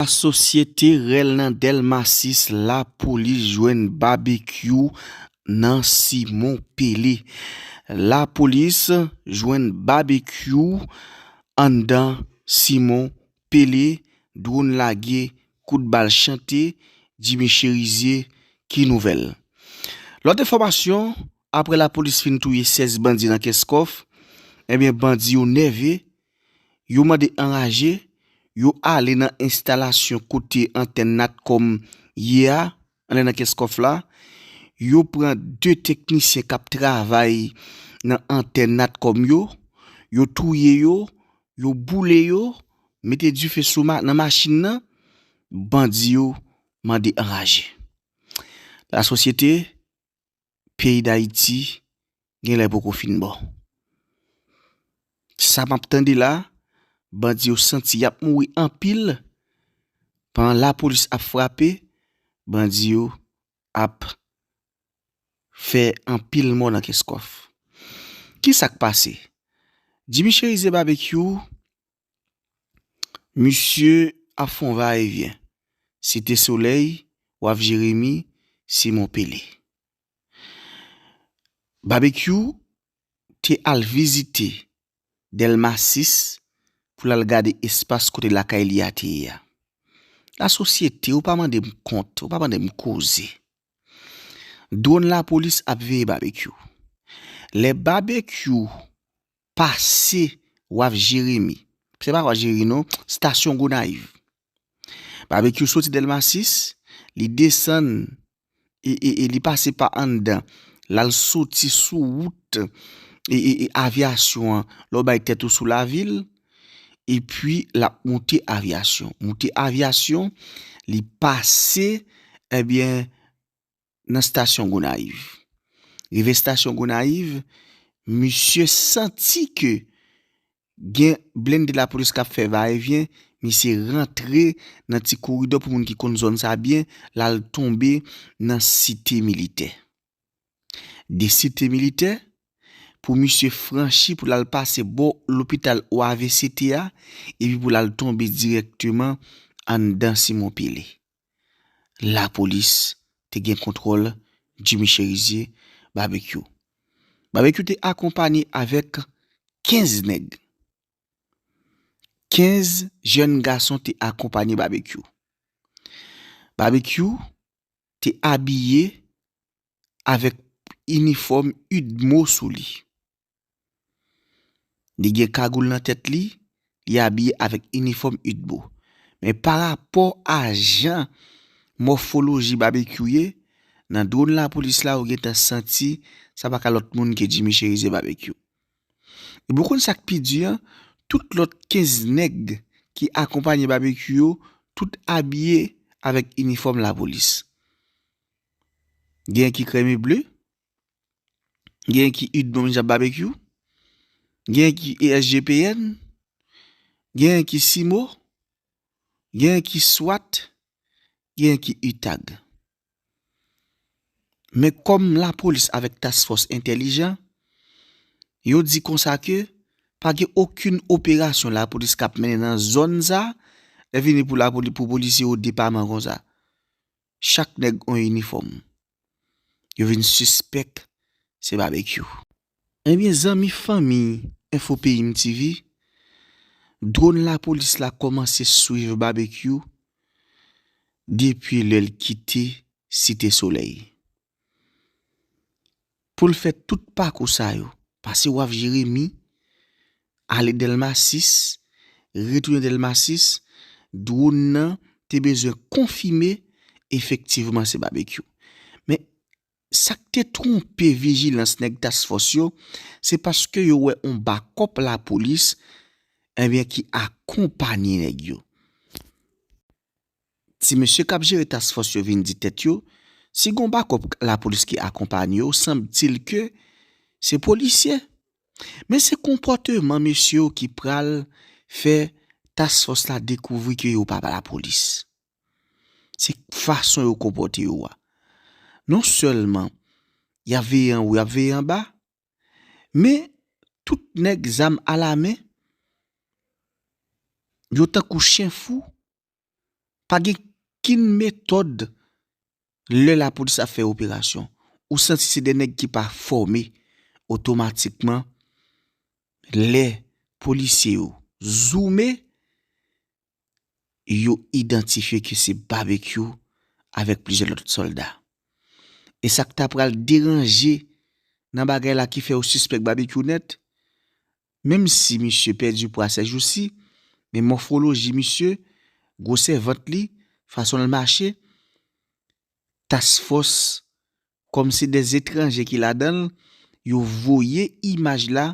La société rèl nan delma 6 la police jwenn babekyou nan simon pele la police jwenn babekyou anndan simon pele drone lage kout bal chante jimmy cherizier ki nouvèl lòt enfòmasyon aprè la police fin touye 16 bandi nan kenskoff ebyen bandi yo nève. Yo mande anraje, yo ale nan enstalasyon kote antèn Natcom ye a, anlè nan Kenscoff la. Yo pran 2 teknisyen k ap travay nan antèn Natcom yo, yo touye yo, yo boule yo, mete dife sou nan machin nan, bandi yo mande anraje. Lasosyete peyi dayiti gen lè poko fin bon. Sa map tande la, bandi yo santi yap mouri anpil, pandan lapolis ap frape, bandi yo ap fè anpil mò nan kès kòf. Kisak pase? Jimmy Cherizier Babekyou Misye ap fon va e vyen. Site Solèy, Waf Jeremi, Simon Pele. Babekyou te al vizite Dèlma 6 pou l al gade espas kote lakay li a te ye a. Lasosyete, ou pa mande m kont, ou pa mande m koze. Dwòn lapolis ap veye Babekyou. Lè Babekyou pase waf jeremi se pa waf jeremi non stasyon gonayiv babekyou soti delma 6 li desann e li pase pa anndan lal soti sou wout e avyasyon an lè w bay tèt ou sou lavil epi lap moute avyasyon moute avyasyon li pase ebyen nan stasyon Gonayiv. Rive stasyon Gonayiv, misye santi ke gen blende lapolis kap fè va e vyen, misye rantre nan ti koridò pou moun ki konn zòn sa byen, lal tonbe nan site militè. De site militè, pou misye franchi pou lal pase bò lopital OAVCT a, epi pou lal tonbe dirèkteman anndan Simon Pele. lapolis te gen kontwòl Jimmy Cherizier, Babekyou. Babekyou te akonpanye avèk 15 nèg. 15 jèn gason te akonpanye Babekyou. Babekyou te abiye avèk inifòm udmo sou li. Li gen kagoul nan tèt li, li abiye avèk inifòm udbo. Men pa rapò a jan mòfoloji Babekyou ye, nan dron lapolis la ou gentan santi sa pa ka lòt moun ke Jimmy Cherizier Babekyou. Epi ou konn sa k pi di an, tout lòt 15 nèg ki akonpanye Babekyou yo, tout abiye avèk inifòm lapolis. Gen ki krèm e ble, Gen ki Ud'Bom Jab Babekyou, gen ki ESGPN, gen ki Simo, gen ki Swat, gen ki Utag. Men kòm la polis avèk task fòs entèlijan, yo di konsa ke pa gen okenn operasyon la polis k ap mennen nan zòn sa, lè vini pou polisye yo depaman konsa. Chak nèg on inifòm. yo vin sispèk se Babekyou. Ebyen zanmi fanmi Enfo Peyim TV, dwon lapolis la kòmanse swiv Babekyou depi lè l kite Site Solèy. Pou l fè tout pakou sa yo, pase waf Jeremi, ale Dèlma 6, retounen Dèlma 6, dwonn nan te bezwen konfime efektivman se Babekyou. Men, sa k te twonpe vijilans nèg Task Force yo, se paske yo wè yon bakòp lapolis, enben ki akonpanye nèg yo. Ti mesye kap jere task fòs yo vin di tèt yo si gon bakòp lapolis ki akonpanye yo sanbtil ke se polisye men se konpòteman mesye yo ki pral fè task fòs la dekouvri ke yo pa lapolis se fason yo konpòte yo a non sèlman yap veye anwo yap veye anba Men tout nèg zam alamen yo tankou chen fou pa gen kin metòd lè lapolis ap fè operasyon ou santi se de nèg ki pa fòme otomatikman lè polisye yo zoume yo idantifye ke se Babekyou avèk plizyè lòt sòlda. E sa k ta pral deranje nan bagay la ki fè yo sispèk Babekyou nèt, menm si misye pèdi pwa sèjousi, men mòfwoloji misye, gwosè vant li, fason l mache, task fòs kòm se de etranje ki ladan l, yo voye imaj la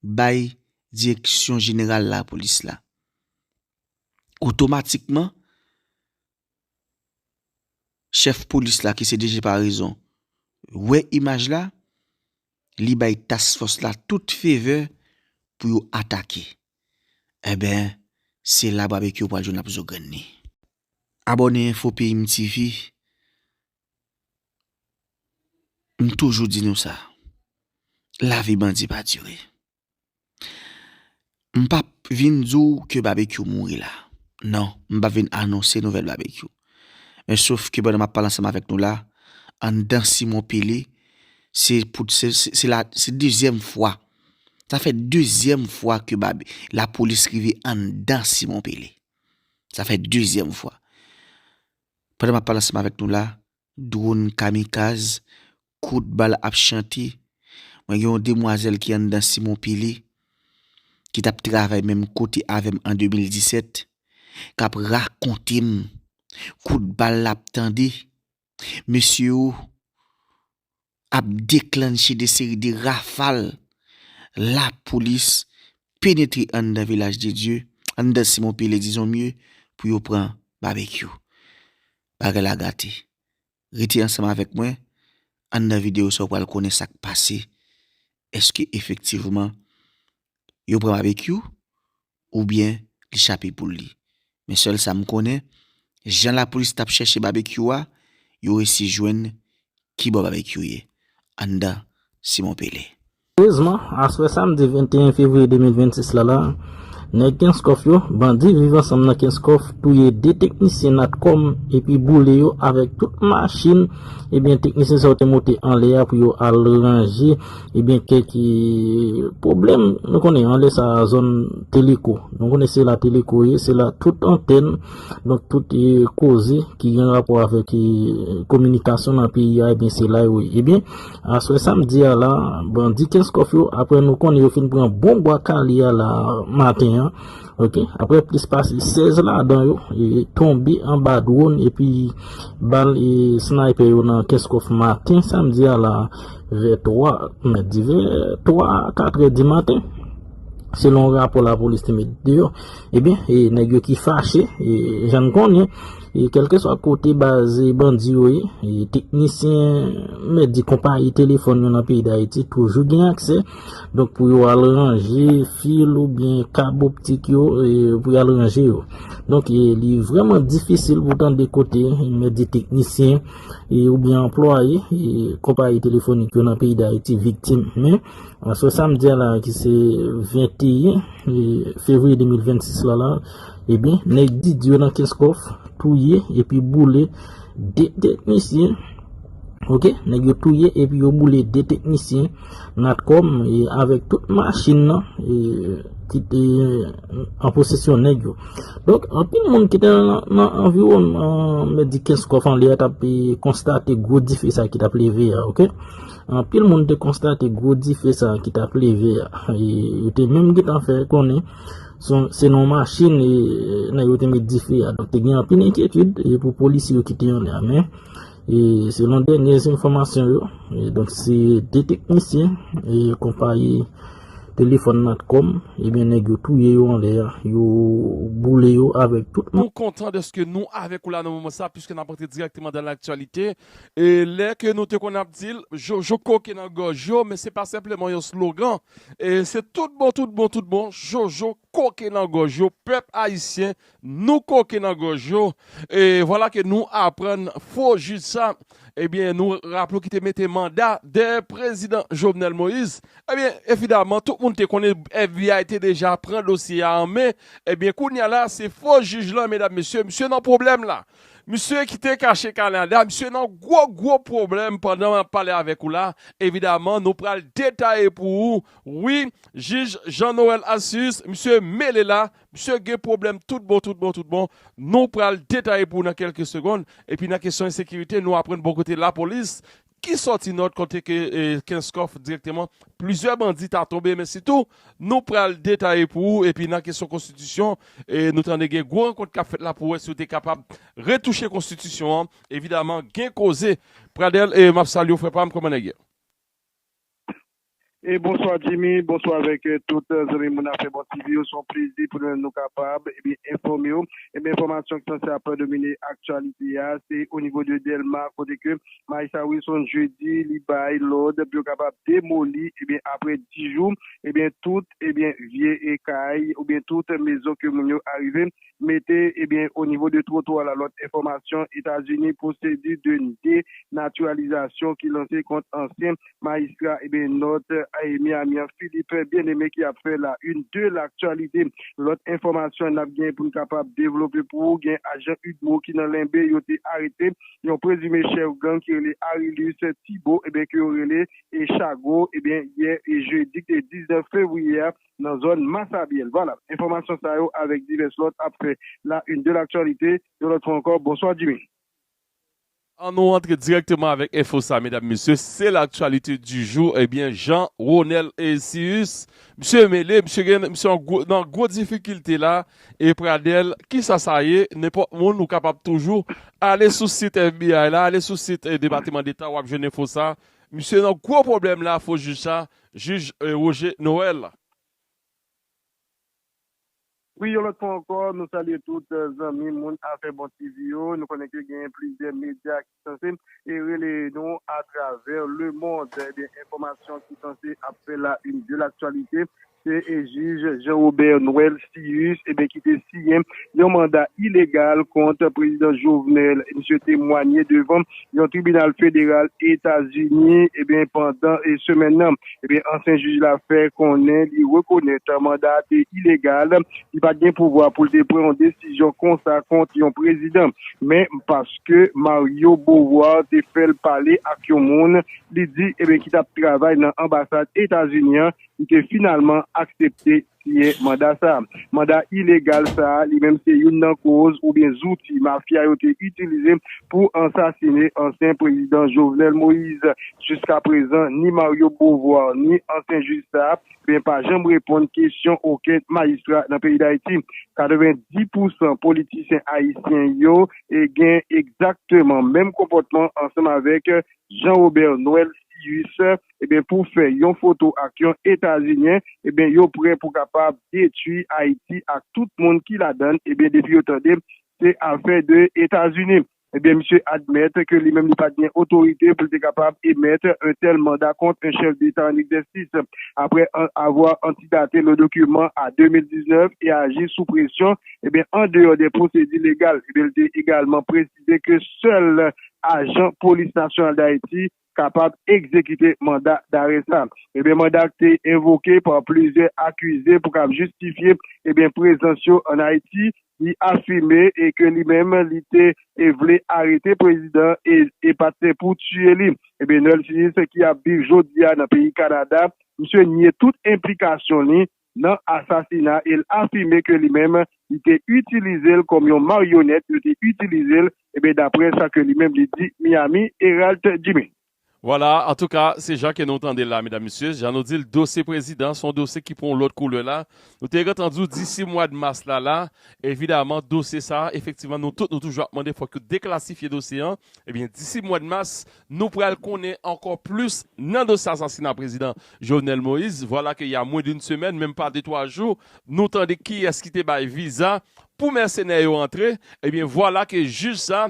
bay direksyon jeneral lapolis la. Otomatikman, chèf polis la ki se DG Paraison wè imaj la, li bay task fòs la tout fevè pou yo atake. Enben, se la babekyou pral jwenn ap zo grenn li. Abòne Info Peyim TV M toujou di nou sa, lavi bandi pa dire. M pap vin di w ke Babekyou mouri la. Non, m pap vin anonse nouvèl Babekyou. Men sof ke pandan m ap pale ansanm avèk nou la, anndan Simon Pele, se pou, se la, se dezyèm fwa, sa fè dezyèm fwa ke Babe, lapolis rive anndan Simon Pele. Sa fè dezyèm fwa. Pandan map pale ansanm avèk nou la, drone kamikaz, kout bal ap chante, mwen gen yon demwazèl ki anndan Simon Pili, ki tap travay menm kote avèm an 2017, kap rakontem kout bal lap tande, mesye oo, ap deklannche de seri de rafal lapolis penetre anndan Vilaj de Dye, anndan Simon Pele dizon mye, pou yo pran Babekyou. Bagay la gate. Rete ansanm avèk mwen, anndan videyo sa ou pral konnen sa k pase. Eske efektivman yo pran Babekyou oubyen li chape poul li. Men sèl sa m konnen, jan lapolis tap chèche Babekyou a, yo resi jwenn ki bò Babekyou ye, anndan Simon Pele. Erezman, aswè samdi 21 fevriye 2026 la la, nèg Kenskòf yo, bandi Viv Ansanm nan Kenskòf, touye 2 teknisyen Natcom epi boule yo avèk tout machin ebyen teknisyen sa yo te moute anlè a pou yo al ranje Ebyen kè ki pwoblèm nou konnen anlè sa a zòn teleko nou konnen se la teleko ye se la tout antèn donk tout e koze ki gen rapò avèk e kominikasyon nan peyi a ebyen se la yo ye ebyen aswè samdi a la bandi kenskòf yo apre nou konnen yo fin pran bon bwa kale a la maten an ok apre plis pase 16 ladan yo e tonbe anba dwòn epi bal e snaypè yo nan kenskòf maten samdi a la. Vè 3, mèt di vè 3, 4 è di maten, selon rapò la polis te met di yo, e byen, e nèg yo ki fache, e jan n konnen, e kelke swa kote baz e bandi yo ye, e teknisyen, mèt di konpayi telefon yo nan peyi Dayiti toujou gen aksè, donk pou yo al ranje fil ou byen kab optik yo, e pou y al ranje yo. Donk e li vreman difisil pou tande kote, mèt di teknisyen, oubyen anplwaye konpayi telefonik yo nan peyi Dayiti viktim. Men, sou sa m di a la ki se 21 fevriye 2026 la la, ebyen, nèg didi yo nan Kenskòf touye epi boule 2 teknisyen. Ok, nèg yo touye epi yo boule 2 teknisyen. Natcom e avèk tout machin nan ki te an posesyon nèg yo. Donk, anpil moun ki te nan anviwònman mèt di Kenskòf an lè a t ap konstate gwo dife sa ki t ap leve a. Ok, anpil moun te konstate gwo dife sa ki t ap leve a. Yo te menm gen tan fè konnen se nan yon machin nèg yo te met dife a. Donk, te gen anpil enkyetid pou polisye yo ki te anlè a. E selon dènyè enfòmasyon yo, donk se 2 teknisyen konpayi telefòn Natcom, ebyen nèg yo touye yo anlè a, yo boule yo avèk tout moun. Nou kontan dèske nou avèk ou la nan moman sa, piske nap antre dirèkteman dan laktyalite, e lè ke nou te konn ap dil, Jojo koke nan gòj yo, men se pa senpleman yon slogan, e se tout bon, tout bon, tout bon, Jojo. koke nan gòj yo pèp ayisyen nou koke nan gòj yo e vwala ke nou aprann fo jij sa ebyen nou raple w ki te mete manda dèyè prezidan Jovenel Moïse ebyen evidaman tout moun te konnen FBI te deja pran dosye a an men ebyen kounya la se fo jij lan medam mesye misye nan pwoblèm la misye ki te kache Canada misye nan gwo gwo pwoblèm pandan map pale avèk ou la evidaman nou pral detaye pou ou wi. Jij Jean Noël Alcius misye mele la, misye gen pwoblèm tout bon tout bon tout bon, nou pral detaye pou ou nan kelke segonn, epi nan kesyon ensekirite nou aprann bò kote lapolis ki sòti nòt kote ke Kenskòf dirèkteman plizyè bandi ta tonbe men sitou nou pral detaye pou ou epi nan kesyon konstitisyon nou tande gen gwo rankont kap fèt la pou wè si yo te kapab retouche konstitisyon an evidaman gen koze Pradel map salye w frè pam kòman nèg ye. E bonswa Jimmy, bonswa avèk tout zanmi moun afè bon TV yo, se yon plezi pou nou menm nou kapab ebyen enfòme w, ebyen enfòmasyon ki sanse ap domine aktyalite a se onivo de Dèlma kote ke Marissa Wilson jedi li bay lòd pou yo kapab demoli ebyen aprè 10 jou ebyen tout ebyen vye kay oubyen tout mezon ke moun yo arive mete ebyen o nivo de twotwa la lòt enfòmasyon Etazini pwosedi de denatiralizasyon ki lanse kont ansyen majistra ebyen Nòt Miami an Philippe Bien-Aimé ki ap fè la une de l'actualité lòt enfòmasyon nap gen poun kapab devlope pou ou gen ajan udmo ki nan Lenbe yo te arete yon prezime chèf gang ki rele Arilus Thibaud ebyen ke yo rele Chago ebyen yè jedi ki te 19 fevriye a. nan zòn Massabielle. Vwala, enfòmasyon sa yo avèk divès lòt ap fè la une de l'actualité yon lòt fwa ankò. Bonswa Jimmy. An nou rantre dirèkteman avèk enfo sa medam mesye, se l'actualité du jour ebyen Jean Ronel Cius misye mele, misye gen, misye an gwo, nan gwo difikilte la e Pradel kisa sa ye, nenpòt moun ou kapab toujou ale sou sit FBI la, ale sou sit Depateman Deta wap jwenn enfo sa, misye nan gwo pwoblèm la fo jij sa, Jij Roger Noël. Wi yon lòt fwa ankò nou salye tout zanmi moun afè bon TV yo, nou konnen ke genyen plizyè medya ki sanse rele nou atravè le mond ebyen enfòmasyon ki sanse ap fè la une de l'actualité se jij Jean Robert Noël Cius ebyen ki te siyen yon manda ilegal kont prezidan Jovenel misye temwanye devan yon tribinal federal Etazini ebyen pandan semèn nan ebyen ansyen jij la fè konnen li rekonèt manda a te ilegal li pat gen pouvwa poul te pran yon desizyon konsa kont yon prezidan men paske Mario Beauvoir te fèl pale ak yon moun li di ebyen ki tap travay nan anbasad Etazini an li te finalman aksepte siyen manda sa. Manda ilegal sa a li menm se youn nan koz oubyen zouti mafya yo te itilize pou ansasine ansyen prezidan Jovenel Moïse. Jiska prezan ni Mario Beauvoir ni ansyen jij sa a ben pa janm reponn kesyon oken majistra nan peyi Dayiti. 90 pousan politisyen ayisyen yo gen egzakteman menm konpòtman ansanm avèk Jean Robert Noël Cius ebyen pou fè yon foto ak yon etazinyen ebyen yo prè pou kapab detwi ayiti ak tout moun ki ladann ebyen depi yo tande se afè de etazini ebyen misye admèt ke li menm li pat gen otorite pou li te kapab emèt un tèl manda kont un chèf deta an egzèsis aprè avwa antidate le dokiman a 2019 e aji sou presyon ebyen an deyò de pwosedi legal ebyen li te egalman presize ke sèl ajan polis nasyonal dayiti kapab egzekite manda dare sa. Ebyen manda te envoke pa plizyè akize pou kab jistifye ebyen prezans yo an Ayiti, li afime e ke li menm li te e vle arete prezidan e e pa te pou tiye li. Ebyen Noel Phillips ki ap viv jodi a nan peyi Kanada, misye nye tout enplikasyon li nan asasina el afime ke li menm li te itilizel kòm yon maryonèt yo te itilizel ebyen daprè sa ke li menm li di Miami Heralt Jimmy. Vwala, antouka se jan ke nou tandel la medam mesye, jan nou dil dosye prezidan son dosye ki pran yon lòt koulè la, nou te gentan di w disi mwad mas la la evidaman dosye sa efektivman nou tout nou toujou ap mande fòk yo deklasifye dosye an ebyen disi mwad mas Nou pral konnen ankò plis nan dosye asasina prezidan Jovenel Moïse. Vwala ke ya mwen d'une semèn, menm pa de twa jou, nou tande kiyès ki te bay viza pou mèsenè yo antre, ebyen vwala ke jij sa,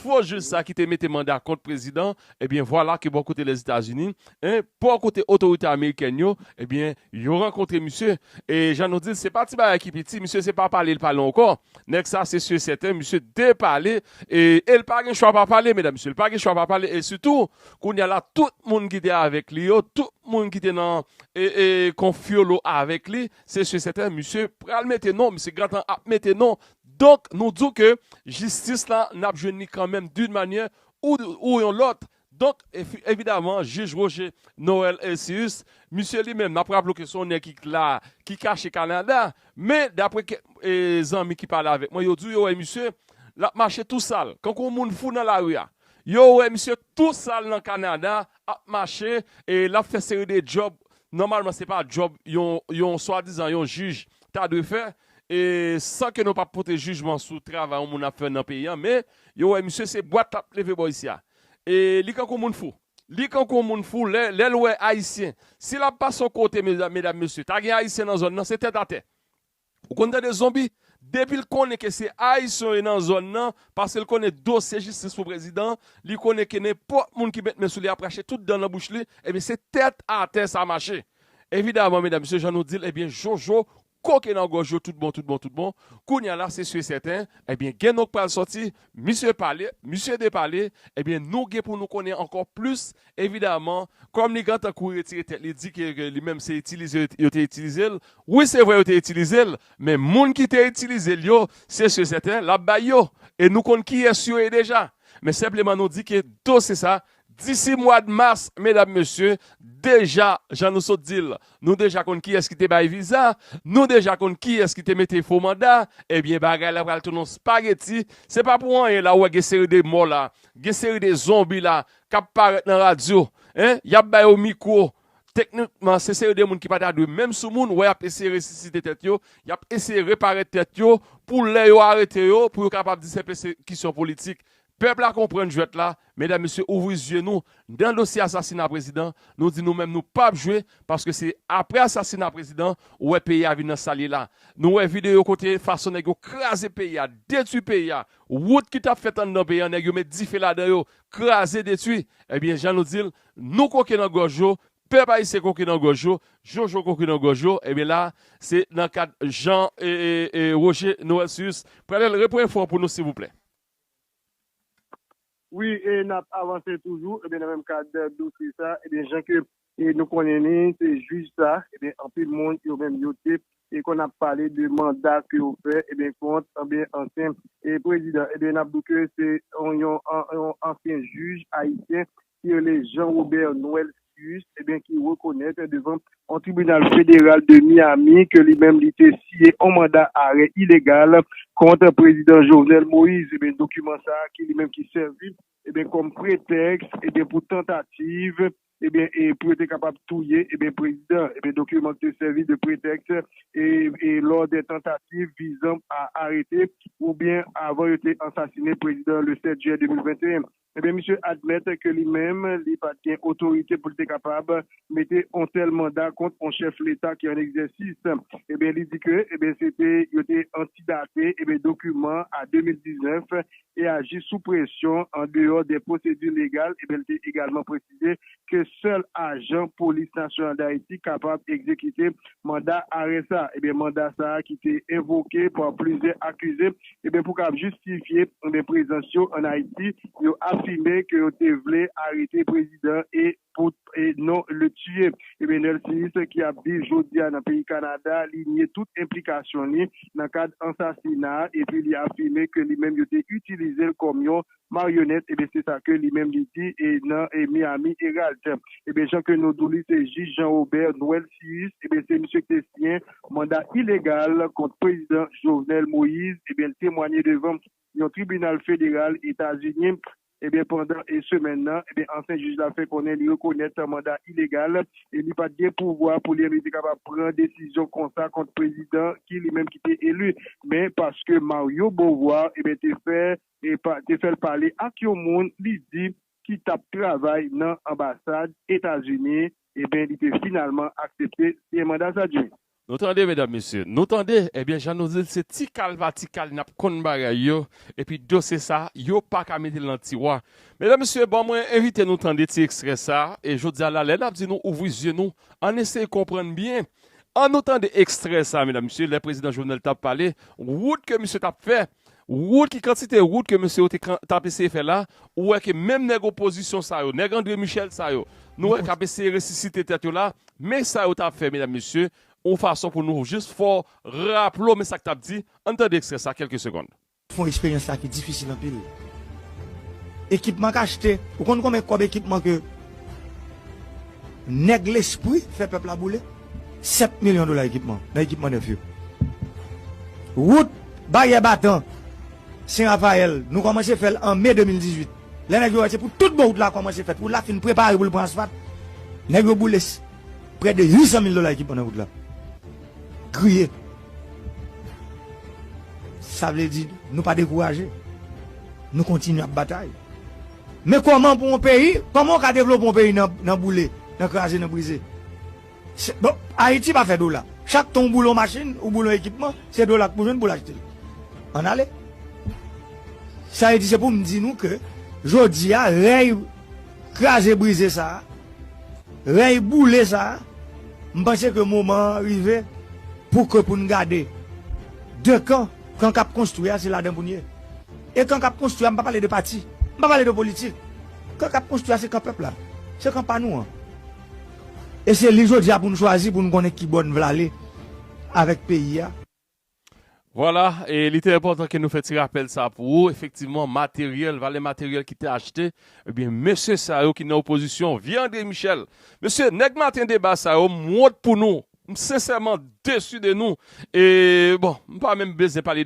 fo jij sa ki te mete manda kont prezidan, ebyen vwala ke bò kote Lèzetazini, en, bò kote otorite amerikèn yo, ebyen yo rankontre misye. E jan nou di l, se pa ti bagay ki piti, misye se pa pale l pale ankò. Nèg sa se su et sèten misye depale e l pa gen chwa pa pale medam mesye l pa gen chwa pa pale e sitou kounya la tout moun ki te avèk li yo tout moun ki te nan konfyolo avèk li se su et sèten misye pral mete non misye gentan ap mete non donk nou di w ke jistis la n ap jwenn li kanmenm dun manyè ou yon lòt Donk, evidaman, jij Roger Noël Hercius, misye li menm, n ap raple w ke se yon nèg ki la, ki kache Kanada, men, dapre kèk zanmi ki pale avèk mwen, yo di w yo wè misye, l ap mache tou sal, kankou yon moun fou nan lari a. Yo wè misye tou sal nan Kanada, ap mache, l ap fè seri de djòb, nòmalman se pa djòb yon swadizan yon jij ta dwe fè, san ke nou pa pote jijman sou travay yon moun ap fè nan peyi a, men, yo wè misye se bwat l ap leve bò isi a. E li kankou moun fou. Li kankou moun fou lè lèl wè ayisyen. Si lap pase yon kote medam mesye ta gen ayisyen nan zòn nan se tèt atè. Ou konn tande zonbi depil konnen ke se ayisyen yo ye nan zòn nan paskel konnen dosye jistis pou prezidan li konnen ke nenpòt moun ki met men sou li ap rache tout dan nan bouch li ebyen se tèt atè sa mache. Evidaman medam mesye jan nou dil ebyen jojo Koke nan gòj yo tout bon tout bon tout bon, kounya la se su sèten, ebyen gen non k pral sòti, misye pale, misye depale, ebyen nou gen pou nou konnen ankò plis, evidaman, kòm li gentan kouri retire tèt li di ke li menm se itilize yo yo te itilize l, wi se vre yo te itilize l, men moun ki te itilize l yo, se su sèten l ap bay yo, e nou konn kiyès yo ye deja, men senpleman nou di ke dosye sa Disi mwad mas medam mesye, deja jan nou sot dil, nou deja konn kiyès ki te bay viza, nou deja konn kiyès ki te mete fo manda, ebyen bagay la pral tounen yon spageti, se pa pou anyen la ou wè gen seri de mò la, gen seri de zonbi la kap parèt nan radyo, hein, yap ba yo mikwo, teknikman se seri de moun ki pa ta dwe menm sou moun, ou wè yap eseye resisite tèt yo, yap eseye repare tèt yo pou lè yo arete yo pou yo kapab di se pèsekisyon politik, Pèp la konprann jwèt la, medam mesye ouvri zye nou nan dosye asasina prezidan, nou di nou menm nou pap jwe paske se aprè asasina prezidan ou wè peyi a vin nan sal ye la, nou wè videyo kote fason nèg yo kraze peyi a, detwi peyi a, wout ki tap fèt anndan peyi an nèg yo met dife ladan yo, kraze detwi, ebyen jan nou dil nou koke nan gòj yo, pèp ayisyen koke nan gòj yo, jojo koke nan gòj yo, ebyen la se nan kad jan Roger Noël Cius pral repran enfo an pou nou silvouplè. Wi e nap avanse toujou ebyen nan menm kad dosye sa ebyen jan ke nou konnen li se jij sa ebyen anpil moun yo menm yo te e konn ap pale de manda ke yo fè ebyen kont ebyen ansyen e prezidan ebyen nap di ke se yon ansyen jij ayisyen ki rele Jean Robert Noëlcius ebyen ki rekonèt devan yon tribinal federal de Miami ke li menm li te siye yon manda arè ilegal kont Prezidan Jovenel Moïse ebyen dokiman sa ki li menm ki sèvi ebyen kòm pretèks ebyen pou tantativ ebyen e pou yo te kapab touye ebyen prezidan ebyen dokiman ki te sèvi de pretèks e e lò dè tantativ vizan a arete oubyen avan yo te ansasine prezidan le 7 jiyè 2021. Ebyen misye admèt ke li menm li pat gen otorite pou li te kapab mete on tèl manda kont on chèf leta ki an egzèsis. Ebyen li di ke ebyen se te yo te antidate ebyen dokiman a 2019 e aji sou presyon an deyò de pwosedi legal ebyen li te egalman presize. presize ke sèl ajan Polis Nasyonal Dayiti kapab egzekite manda arè sa a. Ebyen manda sa a ki te envoke pa plizyè akize ebyen pou kab jistifye ebyen prezans yo an Ayiti, yo afime ke yo te vle arete prezidan e pou e non le tiye. Ebyen Nelsis ki ap viv jodi a nan peyi Kanada li nye tout enplikasyon li nan kad ansasina a epi li afime ke li menm yo te itilize l kòm yon Marionette ebyen se sa ke li menm li di e nan e Miami Herald ebyen jan ke nou dou li se jij Jean Robert Noëlcius ebyen se misye ki te siyen manda ilegal kont prezidan Jovenel Moïse ebyen li temwanye devan yon tribinal federal Etazini ebyen pandan e semèn nan ebyen ansyen jij la fè konnen li rekonèt manda ilegal e li pat gen pouvwa pou li menm li te kapab pran desizyon konsa kont prezidan ki li menm ki te eli men paske Mario Beauvoir ebyen te fè Epa te fèl pale ak yon moun li di ki tap travay nan anbasad etazini ebyen li te finalman aksepte siyen manda sa jimmy. Nou tande medam mesye nou tande ebyen jan nou dil se tikal pa tikal nap konn bagay yo epi dosye sa yo paka metel nan tiwa medam mesye bon mwen envite nou tande ti ekstrè sa e jodia la lè nap di nou ouvri zye nou ann eseye konprann byen annou tande ekstrè sa medam mesye lè prezidan jovenel tap pale wout ke misye tap fè Wout ki kantite wout ke mesye yo te kan tap eseye fè la, ou wè ke menm nèg opozisyon sa yo, nèg Andre Michel sa yo, nou wè kap eseye resisite tèt yo la, men sa yo tap fè medam mesye, yon fason pou nou jis fè w raple w men sak tap di, ann tande ekstrè sa kèlke segond. Fon eksperyans sa ki difisil anpil. Ekipman k achte, ou konn konben kòb ekipman ke. Nèg lespri fè pèp la boule 7 milyon dola ekipman nan ekipman nèf yo. Wout Baryè Batan, Sen Rafayèl, nou kòmanse fè l an me 2018. Lè nèg yo wè se pou tout bon wout la kòmanse fèt, wout la fin prepare pou l pran asfat, nèg yo boule prè de 800 mil dola ekipman nan wout la. Kriye. Sa vle di nou pa dekouraje. Nou kontinye ap batay. Men kòman pou yon peyi, kòman ou ka devlope yon peyi nan boule, nan kraze, nan brize. Bon, Ayiti pa fè dola. Chak tan ou boule yon machin, ou boule yon ekipman, se dola k pou jwenn pou l achte l. Ann ale. Sa vle di se pou m di nou ke jodi a rèy kraze brize sa a, rèy boule sa a, m panse ke moman an rive pou ke pou n gade 2 kan, kan k ap konstwi a se ladan pou n ye. E kan kap konstwi a mpa pale de pati, mpa pale de politik. Kan kap konstwi a se kan pèp la. Se kan pa nou an. E se li jodi a pou nou chwazi pou nou konnen ki bò nou vle ale avèk peyi a. Vwala, e li te enpòtan ke nou fè ti rapèl sa pou ou. Efektivman, materyèl, valè materyèl ki te achte, ebyen mesye sa yo ki nan opozisyon, vye Andre Michel. Mesye, nèg maten deba sa yo, m wont pou nou. M sensèman desu de nou. E bon, mpa menm bezyen pale de.